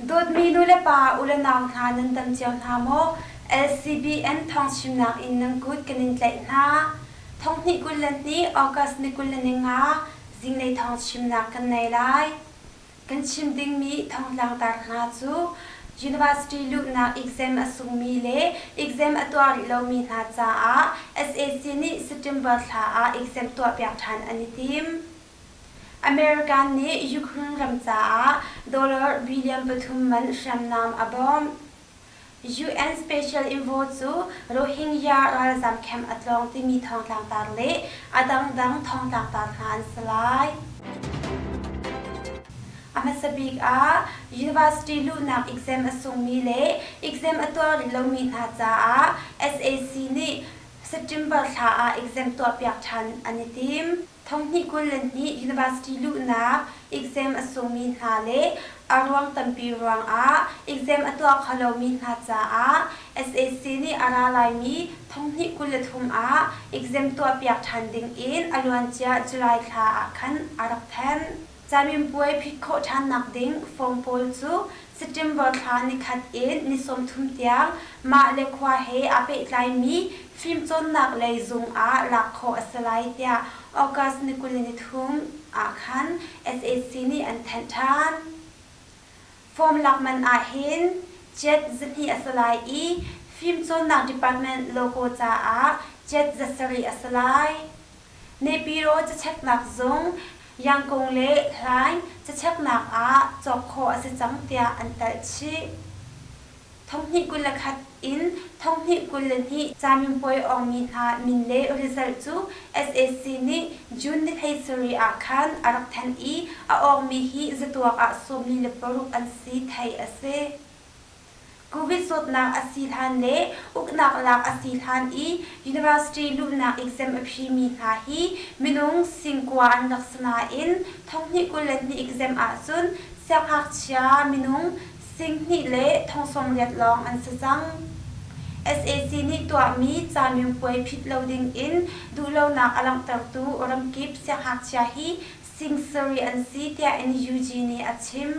Dawtmi nu le pa u le nau hna nan tam cio hna maw? LCBN thawng chimnak in nan kut kan in tlaih hna. Thong hnih kul le hnih August ni kul le ni nga zinglei thawng chimnak kan nei lai. Kan chim dingmi thongtlangtar hna cu University luhnak exam a sungmi le exam a tuah rih lomi hna caah sac nih September thla ah exam tuahpiak ṭhan an i tim. American nih Ukraine ram caah dollar billion pathum man hriamnam a bawmh. UN Special Envoy cu Rohingya ralzam camp a tlawng timi thawngtlangtar le a dangdang thawngtlangtar hna an si lai. A hmasa bik ah university luhnak exam a sungmi le exam a tuar rih lomi hna caah SAC nih September thla ah exam tuahpiak ṭhan an i tim. Thonghnih kul le hnih university luhnak exam a sungmi hna le a ruang tampi ruangah exam a tuah kho lomi hna caah sac nih a ra laimi thonghnih kul le thum ah exam tuahpiak ṭhan dingin a luancia July thla ah khan a rak thanh. Camipuai phit khawh ṭhannak ding form pawl cu September thla nikhat in ni sawmthum tiang mah le khua he aa pehtlaimi fimcawnnak lei zung ah lak khawh a si lai tiah August ni kul ni nithum ah khan sac nih an thanh ṭhan. Form lak man ah hin jet zahnih a si lai i fimcawnnak department logo caah jet za sarih a si lai. Nepiro cacheknak zung, Yangkung le Hlaing cacheknak ah cawk khawh a si cang tiah an telh chih. Thonghnih kul le khat in thonghnih kul le hnih camipuai awngmi hna min le result cu sac nih June ni thei sarih ah khan a rak thanh i a awngmi hi zatuak ah sawmli le paruk an si theih a si. Covid zawtnak a si hlan le uknak lak a si hlan i university luhnak exam a phimi hna hi minung singkua an rak si nain thonghnih kul le hnih exam ahcun sianghngakchia minung singhnih le thongsawmriat lawng an si cang. sac nih tuahmi camipuai phit lo dingin duhlonak a langhtertu ramkip sianghngakchia hi sing sarih an si tiah NUG nih a chim.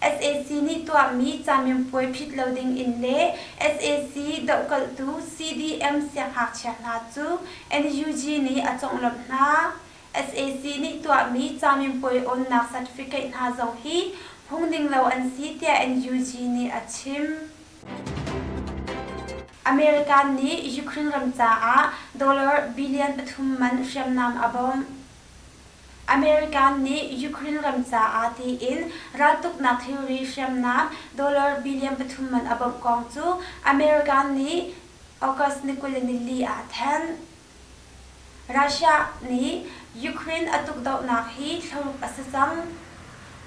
sac nih tuahmi camianpuai phit lo ding in le sac dohkalhtu CDM sianghngakchia hna cu NUG nih a conglawmh hna. sac nih tuahmi camianpuai awnnak certificate hna zong hi phung ding lo an si tiah NUG nih a chim. America nih Ukraine ram caah dollar billion pathum man hriamnam a bawmh. American nih Ukraine ram caah tiin raltuknak thilri hriamnam dollar billion pathum man a bawmh kong cu American nih August ni kul le nili ah a thanh. Russia nih Ukraine a tukdohnak hi thlaruk a si cang.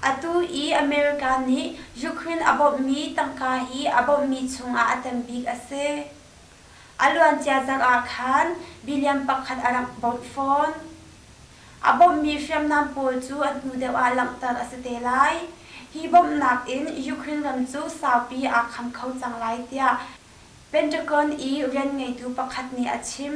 Atu i America nih Ukraine a bawmhmi tangka hi a bawmhmi chungah a tambik a si. A luancia zarh ah khan billion pakhat a rak bawmh fawn. A bawmhmi hriamnam pawl cu a hnu deuh ah langhter a si te lai. Hi bawmhnak in Ukraine ram cu saupi aa kham kho cang lai tiah Pentagon i rian ngeitu pakhat nih a chim.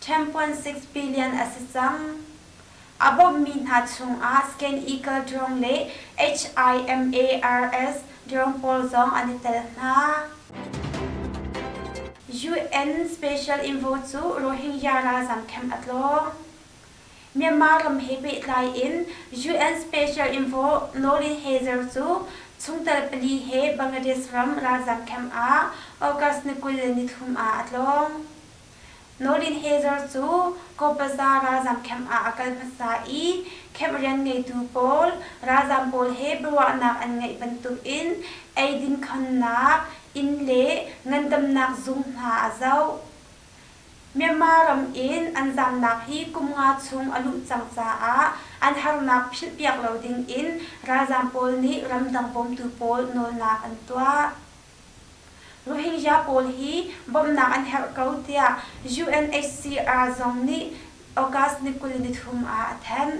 Temp puan six billion a si cang. A bawmhmi hna chungah Scan Eagle drone le HIMARS drone pawl zong an i tel hna. UN special invo cu Rohingya ralzam camp a tlawng. Myanmar ram he pehtlai in UN special invo Lolin Hazer cu chungtel pali he Bangladesh ram ralzam camp ah August ni kul le nithum ah a tlawng. Nolin Hazer cu Kopaza ralzam camp ah a kal hmasa i camp rian ngeitu pawl ralzam pawl he biaruahnak an ngeih bantukin eidin khamnak, inn le ngandamnak zung hna a zoh. Myanmar ram in an zamnak hi kum nga chung a lumh cang caah an harnak philhpiak lo dingin ralzam pawl nih ramdang bawmtu pawl nawlnak an tuah. Rohingya pawl hi bawmhnak an herh ko tiah UNHCR zong nih August ni kul nithum ah a thanh.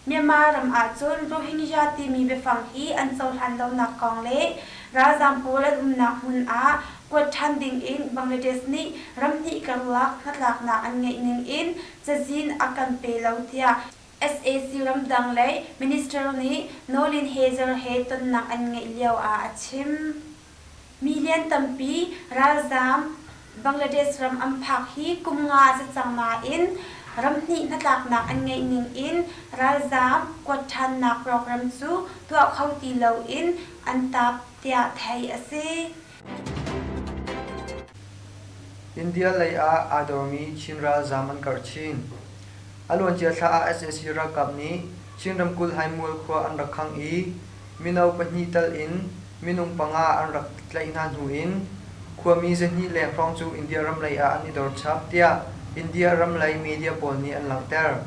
Myanmar ram ahcun Rohingya timi biafang hi an cohlan lonak kong le ralzaam pawl an umnak hmun ah kuat ṭhan ding in Bangladesh nih ram hnih karlak hnatlaknak an ngeih ning in cazin a kan pe lo tiah sac ramdang lei minister nih Naulin Hazer he tonnak an ngeih lio ah a chim. Mi lian tampi ralzaam Bangladesh ram an phak hi kum nga a si cang nain ram hnih hnatlaknak an ngeih ning in ralzaam kuat ṭhannak program cu tuah kho ti lo in an tap tiah theih a si. India lei ah aa dawmi Chin ralzaam an karh chin. A luancia thla ah sac ralkap nih Chin ramkulh Haimual khua an rak khangh i mino pahnih tal in minung panga an rak tlaih hna hnu in khuami zahnih le hrawng cu India ram lei ah an i dor chap tiah India ram lei media pawl nih an langhter.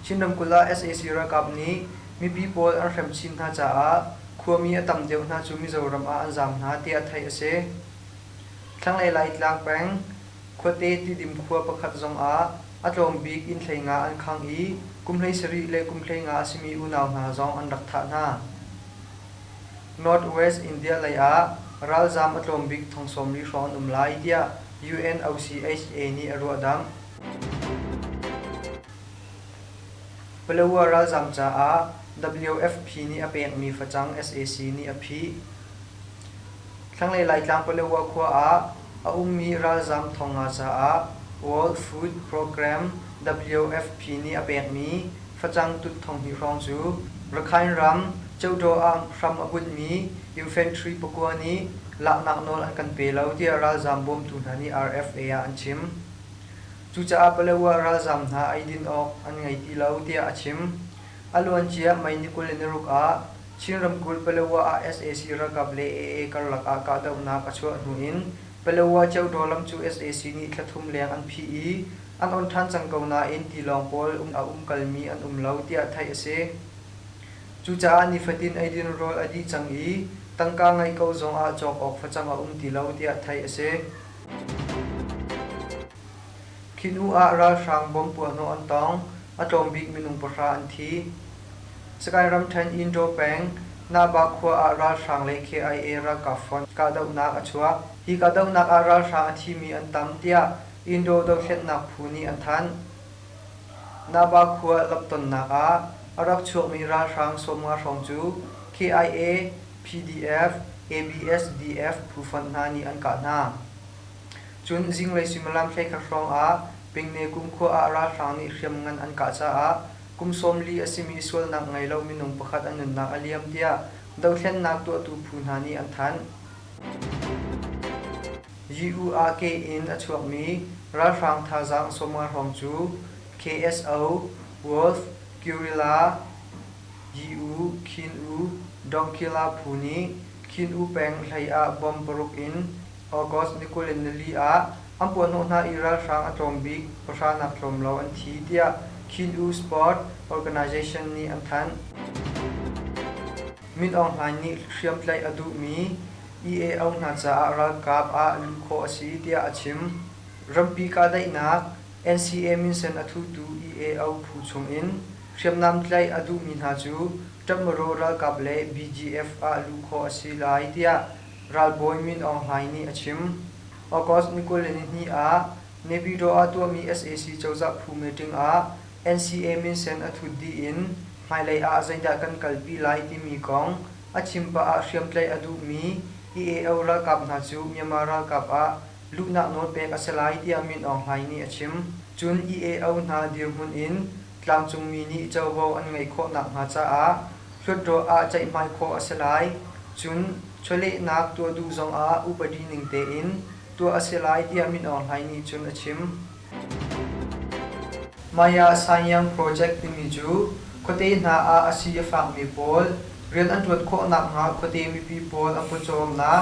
Chin ramkulh ah sac ralkap nih mipi pawl an hrem chin hna caah Khuami a tam deuh hna cu Mizoram ah an zaam hna tiah theih a si. Thlanglei Laitlang peng Khuate Tidim khua pakhat zong ah a tlawm bik innhlei nga an khang i kumhlei sarih le kumhlei nga a simi unau hna zong an rak thah hna. North-West India lei ah ralzaam a tlawm bik thong sawmli hrawng an um lai tiah UNOCHA nih a ruahdamh. Paletwa ralzam caah WFP nih a pekmi facang sac nih a phih. Thlanglei Laitlang Paletwa khua ah a ummi ralzam thonga caah World Food Programme WFP nih a pekmi facang tut thonghnih hrawng cu Rakhine ram Cheudaw ah hram a bunhmi infantry pakua nih laknak nawl an kan pe lo tiah ralzam bawmtu hna nih RFA ah an chim. Cucaah Paletwa ralzaam hna eidin awk an ngei ti lo tiah a chim. A luancia May ni kul le naruk ah Chin ramkulh Paletwa ah sac ralkap le AA karlak ah kahdohnak a chuah hnu in Paletwa Cheudaw lam cu sac nih thla thum leng an phih i an on ṭhan cang ko nain tilawng pawl um a umkalmi an um lo tiah theih a si. Cucaah nifatin eidin rawl a dih cang i tangka ngeih ko zong ah cawk awk facang a um ti lo tiah theih a si. Khi hnu ah ralhrang bom puahhnawh an tong. A tlawmbik minung pahra an thi. Sagaing ramṭhen Indaw peng Nahbah khua ah ralhrang le KIA ralkap fon kahdohnak a chuak. Hi kahdohnak ah ralhrang a thimi an tam tiah Indaw dohthlennak phu nih an thanh. Nahbah khua lamhtonnak ah a rak chuakmi ralhrang sawmnga hrawng cu KIA PDF, ABSDF phufonh hna nih an kah hna. Cun zinglei suimilam hleikhat hrawngah Pengne kumkhua ah ralhrang nih hriamngan an kah caah kum sawm li a simi sualnak ngei lo minung pakhat an nunnak a liam tiah dohthlennak tuahtu phu hna nih an thanh. Yi-u-ah-ke in a chuakmi ralhrang thazaang sawmnga hrawng cu KSO, Wolf, Guerrilla, Yi u, khin u, Donggila phu nih Khin U peng hlei ah bomb paruk in August ni kul in nili ah an puahhnawh hna i ralhrang a tlawm bik pahranak tlawm lo an thi tiah Khin U Sport Organisation nih an thanh. Min Aung Hlaing nih hriamtlaih a duhmi EA Aung hna caah ralkap ah luh khawh a si tiah a chim. Rampi kahdaihnak NCA minsen a thutu EAO phu chungin hriamnam tlaih a duhmi hna cu Ṭamoro ralkap le BGF ah luh khawh a si lai tiah ralbawi Min Aung Hlaing nih a chim. August ni kul le nihnih ah Nebiro ah tuahmi sac cozah phu meeting ah NCA minsen a thut dih in hmailei ah zeidah kan kalpi lai timi kong a chim pah ah hriamtlaih a duhmi EAO ralkap hna cu Myanmar ralkap ah luhnak nawl pek a si lai tiah Min Aung Hlaing nih a chim. Cun EAO hna dirhmun in tlangcungmi nih covo an ngeih khawh nakhnga caah hluatdaw ah ceihmai khawh a si lai. Cun chawlehnak tuah duh zongah upadi ning tein tuah a si lai tiah Min Aung Hlaing nih cun a chim. Maya Sanyang Project timi cu khuate hna ah a si a fakmi pawl rian an ṭuan khawh nakhnga khuate mipi pawl a khuacawmnak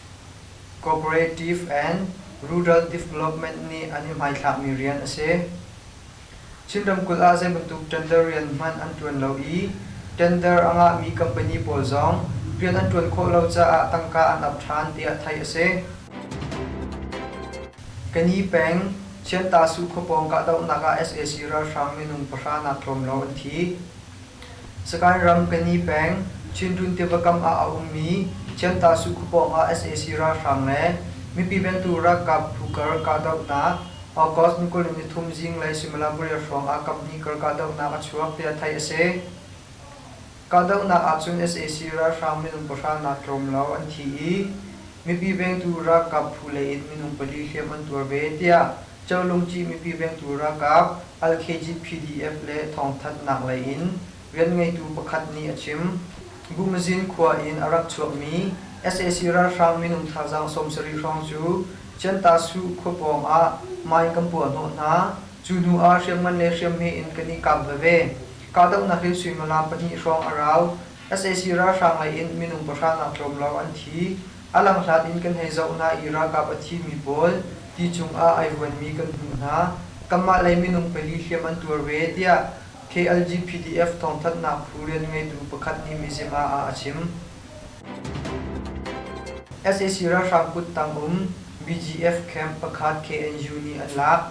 Cooperative and Rural Development nih an i hmaithlakmi rian a si. Chin ramkulh ah zeibantuk tender rian hmanh an ṭuan lo i tender a ngahmi company pawl zong rian an ṭuan khawh lo caah tangka an ap ṭhan tiah theih a si. Kani peng Chiattahsuh khuapawng kahdohnak ah sac ralhrang minung pahra nak tlawmlo an thi. Sakaing ram Kani peng, Chinrun tiva kam ah a ummi Ciantahsu khua pawngah sac ralhrang le mipi ventu ralkap phu kar kahdohnak August ni kul ni nithum zinglei Similaburi hrawng ah kaphnih kar kahdohnak a chuak tiah theih a si. Kahdohnak ahcun sac ralhrang minung pahra nak tlawm lo an thi i mipi vengtu ralkap phu leiin minung pali hliam an tuar ve tiah Cholung Cih mipi vengtu ralkap Al-KGPDF le thawngthanhnak lei in rianngeitu pakhat nih a chim. Bumazin khua in a rak chuakmi sac ralhrang minung thazaang sawmsarih hrawng cu Ciantasu khua pawng ah mine kan puah hnawh hna. Cu hnu ah hriamngan le hriamhme in kan i kap veve. Kahdohnak hle suimilam pahnih hrawng a rau. Sac ralhrang lei in minung pahra nak tlawmlao an thi. A langhlat in kan hei zoh hna i ralkap a thimi pawl ti cungah ai huanmi kan hmuh hna. Kanmah lei minung pali hliam an tuar ve, tiah KLGPDF thawngthanhnak phu rianngeitu pakhat nih Mizzima ah a chim. sac ralhrang kut tang um BGF camp pakhat KNU nih an lak.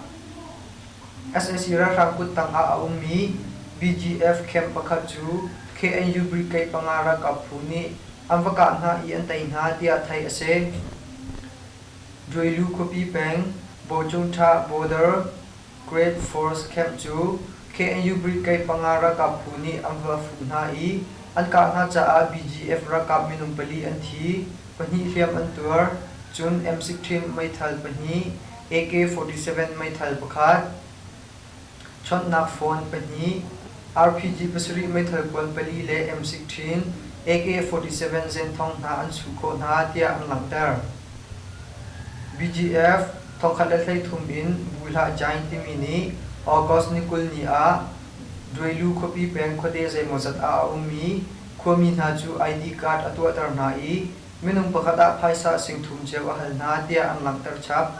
sac ralhrang kut tang ah a ummi BGF camp pakhat cu KNU brigade panga ralkap phu nih an va kah hna i an tei hna tiah theih a si. Druilu khuapi peng Bawcung Ṭha Border Great Forest Camp cu KNU Brigade panga ralkap phu nih an va fuh hna i an kah hna caah BGF ralkap minung pali an thi, pahnih hliam an tuar, cun M16 meithal pahnih, AK-47 meithal pakhat, Chawnhnak phone pahnih, RPG pasarih meithal kual pali le M16, AK-47 zenthong hna an chuh khawh hna tiah an langhter. BGF thongkhat le hleithum in Buihlah Giant timi nih August ni kul ni ah Duailu khuapi peng khuate zeimawzat ah a ummi khuami hna cu ID card a tuahter hna i minung pakhat ah phaisa singthum cio a hal hna tiah an langhter chap.